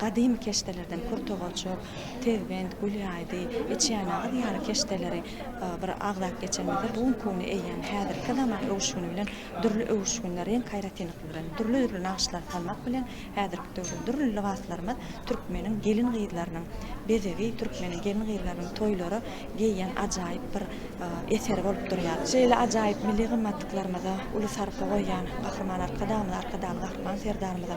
Gadymy keşdelerden Purtogaçok, Tezbent, Gulýaýdy, Eçýanyýaz ýaly keşdeleri bir agzap geçenimizde bu günki güni eýýäm häzirki zaman öwüşgini bilen dürli öwüşginde reňk aýratynlyklary bilen dürli-dürli nagyşlary salmak bilen häzirki döwrüň dürli lybaslarymyz türkmeniň gelin-gyzlarynyň bezegi, türkmeniň gelin-gyzlarynyň toýlara geýýän ajaýyp bir eseri bolup durýar. Şeýle ajaýyp milli gymmatlyklarymyza uly sarpa goýýan Gahryman Arkadagymyza, Arkadagly Gahryman Serdarymyza